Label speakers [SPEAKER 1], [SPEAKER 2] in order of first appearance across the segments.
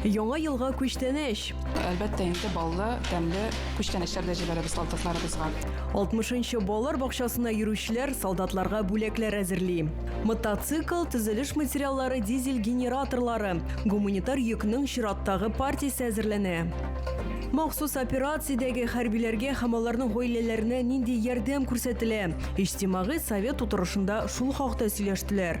[SPEAKER 1] Яңа елга күчтәнәч! Әлбәттә инде
[SPEAKER 2] баллы, тәмле күчтәнәчләр дә җибәрәбез солдатларыбызга. 60 нчы
[SPEAKER 1] балалар бакчасына йөрүчеләр солдатларга бүләкләр әзерли. Мотоцикл, төзелеш материаллары, дизель генераторлары, гуманитар йөкнең чираттагы партиясе әзерләнә. Махсус операциядәге хәрбиләргә һәм аларның гаиләләренә нинди ярдәм күрсәтелә? Иҗтимагый совет утырышында шул хакта сөйләштеләр.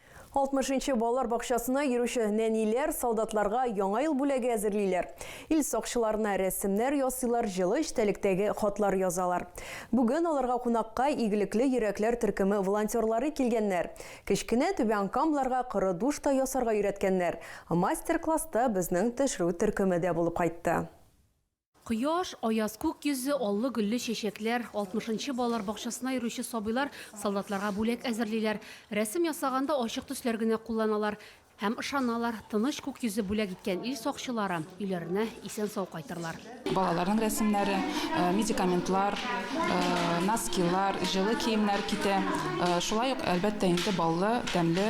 [SPEAKER 1] 60 нчы балалар бакчасына йөрүче нәниләр солдатларга Яңа ел бүләге әзерлиләр. Ил сакчыларына рәсемнәр ясыйлар, җылы эчтәлектәге хатлар язалар. Бүген аларга кунакка Игелекле йөрәкләр төркеме волонтерлары килгәннәр. Кечкенә Түбән Камларга коры душ та ясарга өйрәткәннәр. Мастер-класста безнең төшерү төркеме дә булып кайтты. Кояш,
[SPEAKER 3] аяз күк йөзе, аллы-гөлле чәчәкләр, алтмышынчы балалар бакчасына йөрүче сабыйлар солдатларга бүләк әзерлиләр. Рәсем ясаганда ачык төсләр генә кулланалар. Һәм ышаналар, тыныч күк йөзе бүләк иткән ил сакчылары өйләренә исән-сау кайтырлар. Балаларның рәсемнәре,
[SPEAKER 2] медикаментлар, носкилар, җылы киемнәр китә. Шулай ук, әлбәттә инде, баллы, тәмле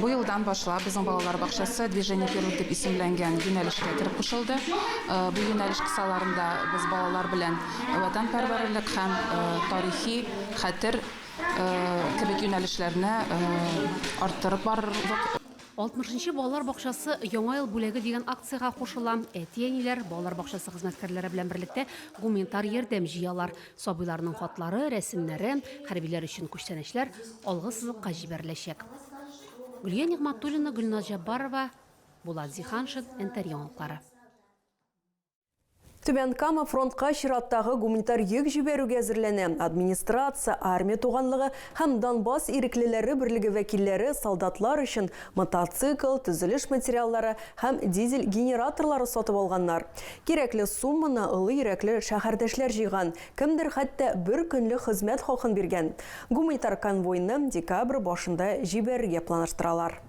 [SPEAKER 3] Бу елдан башлап
[SPEAKER 2] безнең балалар бакчасы Движение вперед дип исемләнгән юнәлешкә кереп кушылды. Бу юнәлеш кысаларында без балалар белән ватанпәрвәрлек һәм тарихи хәтер кебек юнәлешләрне арттырып барырбыз. Алтмышынчы
[SPEAKER 3] балалар бакчасы Яңа ел бүләге дигән акциягә кушыла. Әти-әниләр балалар бакчасы хезмәткәрләре белән берлектә гуманитар ярдәм җыялар. Сабыйларның хатлары, рәсемнәре, хәрбиләр өчен күчтәнәчләр алгы сызыкка җибәреләчәк. Гөлия Нигъматуллина, Гөлназ Җаббарова, Булат Зиһаншин, НТР яңалыклары.
[SPEAKER 1] Түбән Кама фронтка чираттагы гуманитар йөк җибәрүгә әзерләнә. Администрация, армия туганлыгы һәм Донбасс иреклеләре берлеге вәкилләре солдатлар өчен мотоцикл, төзелеш материаллары һәм дизель генераторлары сатып алганнар. Кирәкле сумманы олы йөрәкле шәһәрдәшләр җыйган, кемдер хәтта бер көнлек хезмәт хакын биргән. Гуманитар конвойны декабрь башында җибәрергә планлаштыралар.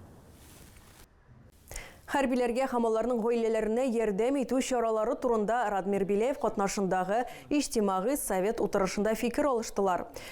[SPEAKER 1] Хәрбиләргә һәм аларның гаиләләренә ярдәм итү чаралары турында Радмир Беляев катнашындагы Иҗтимагый совет утырышында фикер алыштылар.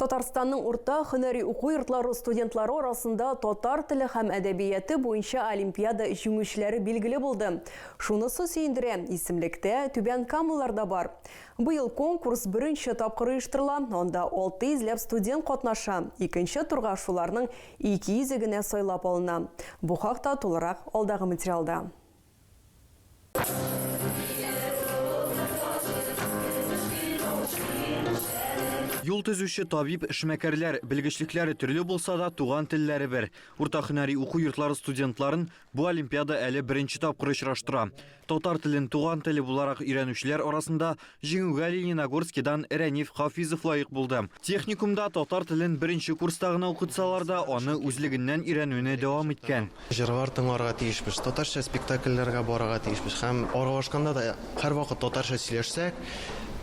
[SPEAKER 1] Татарстанның урта хөнәри уку йортлары студентлары арасында татар теле һәм әдәбияты буенча олимпиада җиңүчеләре билгеле булды. Шунысы сөендерә, исемлектә түбән камалар да бар. Быел конкурс беренче тапкыр оештырыла, анда 600 ләп студент катнаша. Икенче турга шуларның Ике йөзе генә сайлап алына. Бу хакта тулырак алдагы материалда.
[SPEAKER 4] Юл төзүче, табиб, эшмәкәрләр, белгечлекләре төрле булса да, туган телләре бер. Урта һөнәри уку йортлары студентларын бу олимпиада әле беренче тапкыр очраштыра. Татар телен туган теле буларак өйрәнүчеләр арасында җиңүгә Лениногорскидан Рәниф Хафизов лаек булды. Техникумда татар телен беренче курста гына укытсалар да, аны үзлегеннән өйрәнүне дәвам иткән. Җырлар тыңларга
[SPEAKER 5] тиешбез, татарча спектакльләргә барырга тиешбез һәм аралашканда да һәрвакыт татарча сөйләшсәк,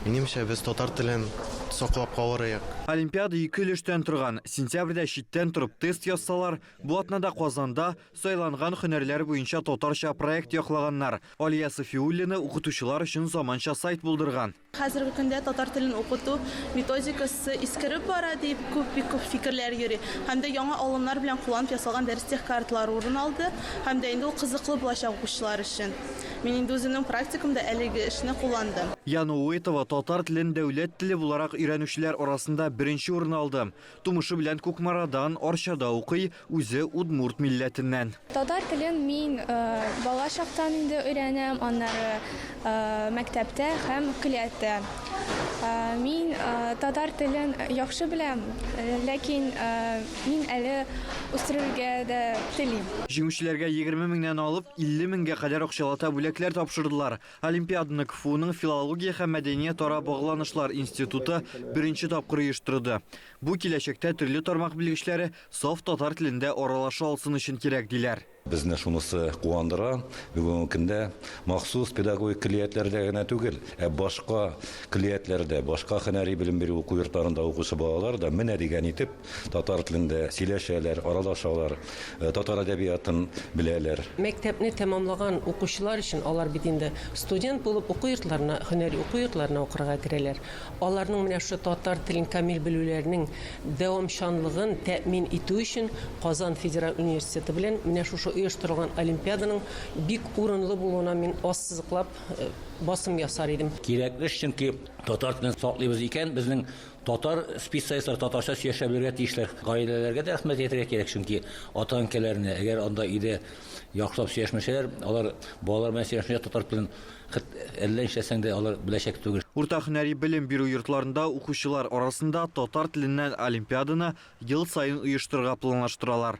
[SPEAKER 5] минемчә, без татар телен саклап калырыек. Олимпиада ике
[SPEAKER 4] өлештән торган. Сентябрьдә читтән торып тест язсалар, бу атнада Казанда, Сайланган хөнәрләр буенча татарча проект яклаганнар. Алия Сафиуллина укытучылар өчен заманча сайт булдырган. Хәзерге көндә татар
[SPEAKER 6] телен укыту методикасы искереп бара, дип күп, бик күп фикерләр йөри. Һәм дә яңа алымнар белән кулланып ясалган дәрестех карталар урын алды. Һәм дә инде ул кызыклы булачак укучылар өчен. Мин инде үземнең практикамда әлеге эшне кулландым. Яна Уетова
[SPEAKER 4] татар телен дәүләт теле буларак өйрәнүчеләр арасында беренче урын алды. Тумышы белән Кукмарадан, Арчада укый, үзе удмурт милләтеннән. Татар телен
[SPEAKER 7] мин бала чактан инде өйрәнәм, аннары мәктәптә һәм көллияттә. Мин татар телен яхшы беләм, ләкин мин әле үстерергә дә телим. Җиңүчеләргә егерме
[SPEAKER 4] меңнән алып илле меңгә кадәр акчалата бүләкләр тапшырдылар. Олимпиаданы КФУның филология һәм мәдәниятара багланышлар институты беренче тапкыр оештырды. Бу киләчәктә төрле тармак белгечләре саф татар телендә аралаша алсын өчен кирәк, диләр. Безне шунысы
[SPEAKER 8] куандыра, бүгенге көндә махсус педагогик көллиятләрдә генә түгел, ә башка көллиятләрдә, башка һөнәри белем бирү уку йортларында укучы балалар да менә дигән итеп Татар телендә сөйләшәләр, аралашалар, татар әдәбиятын беләләр. Мәктәпне
[SPEAKER 9] тәмамлаган укучылар өчен, алар бит инде студент булып уку йортларына, һөнәри уку йортларына укырга керәләр, аларның менә шушы татар телен камил белүләренең дәвамчанлыгын тәэмин итү өчен Казан федераль университеты белән менә шушы оештырылган олимпиаданың бик урынлы булуына мин ассызыклап басым ясар идем. Кирәкле эш, чөнки
[SPEAKER 10] татар телен саклыйбыз икән, безнең Татар специалистлар татарча сөйләшә белергә тиешләр. Гаиләләргә дә рәхмәт әйтергә кирәк, чөнки ата-әнкәләренә, әгәр анда өйдә яхшылап сөйләшмәсәләр, алар балалар белән сөйләшмичә татар телен хет әллә нишләсәң дә алар беләчәк түгел. Урта һөнәри белем
[SPEAKER 4] бирү йортларында укучылар арасында татар теленнән олимпиаданы ел саен оештырырга планлаштыралар.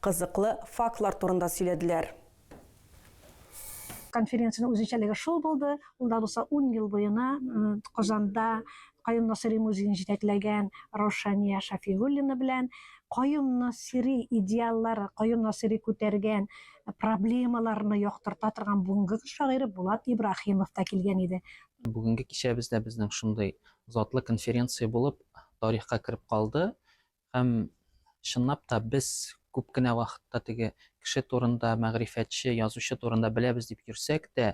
[SPEAKER 1] Кызыклы фактлар турында сөйләделәр.
[SPEAKER 11] Конференциянең үзенчәлеге шул булды, ул да булса ун ел буена Казанда Каюм Насыйри музеен җитәкләгән Раушания Шафигуллина белән Каюм Насыйри идеаллары, Каюм Насыйри күтәргән проблемаларны яктырта торган бүгенге көн шагыйре Булат Ибраһимов та килгән иде. Бүгенге кичәбез
[SPEAKER 12] дә безнең шундый затлы конференция булып тарихка кереп калды. Һәм, чынлап та, без күп кенә вакытта теге кеше турында, мәгърифәтче, язучы турында беләбез дип йөрсәк тә,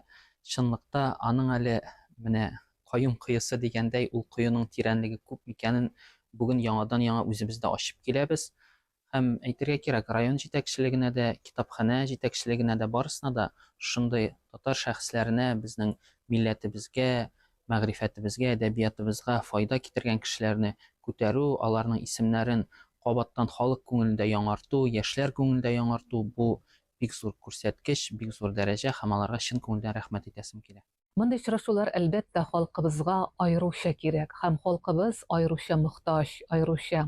[SPEAKER 12] чынлыкта аның әле менә каюм коесы дигәндәй, ул коеның тирәнлеге күп микәнен бүген яңадан-яңа үзебез дә ачып киләбез. Һәм, әйтергә кирәк, район җитәкчелегенә дә, китапханә җитәкчелегенә дә, барысына да шушындый татар шәхесләренә, безнең милләтебезгә, мәгърифәтебезгә, әдәбиятыбызга файда китергән кешеләрне күтәрү, аларның исемнәрен кабаттан халык күңелендә яңарту, яшьләр күңелендә яңарту, бу, бик зур күрсәткеч, бик зур дәрәҗә һәм аларга чын күңелдән рәхмәт итәсем килә. Мондый очрашулар,
[SPEAKER 13] әлбәттә, халкыбызга аеруча кирәк һәм халкыбыз аеруча мохтаҗ, аеруча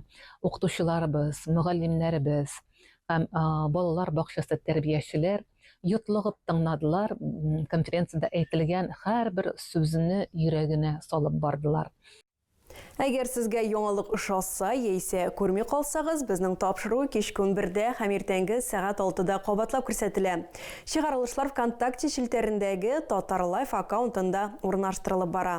[SPEAKER 13] укытучыларыбыз, мөгаллимнәребез һәм балалар бакчасы тәрбиячеләр, Йотлыгып тыңладылар, конференциядә әйтелгән һәрбер сүзне йөрәгенә салып бардылар.
[SPEAKER 1] Әгәр сезгә яңалык ошаса яисә күрми калсагыз, безнең тапшыру кичке унбердә һәм иртәнге сәгать алтыда кабатлап күрсәтелә. Чыгарылышлар ВКонтакте челтәрендәге Татарлайф аккаунтында урнаштырылып бара.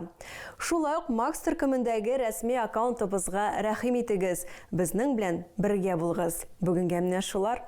[SPEAKER 1] Шулай ук Макс төркемендәге рәсми аккаунтыбызга рәхим итегез, безнең белән бергә булыгыз. Бүгенгә менә шулар.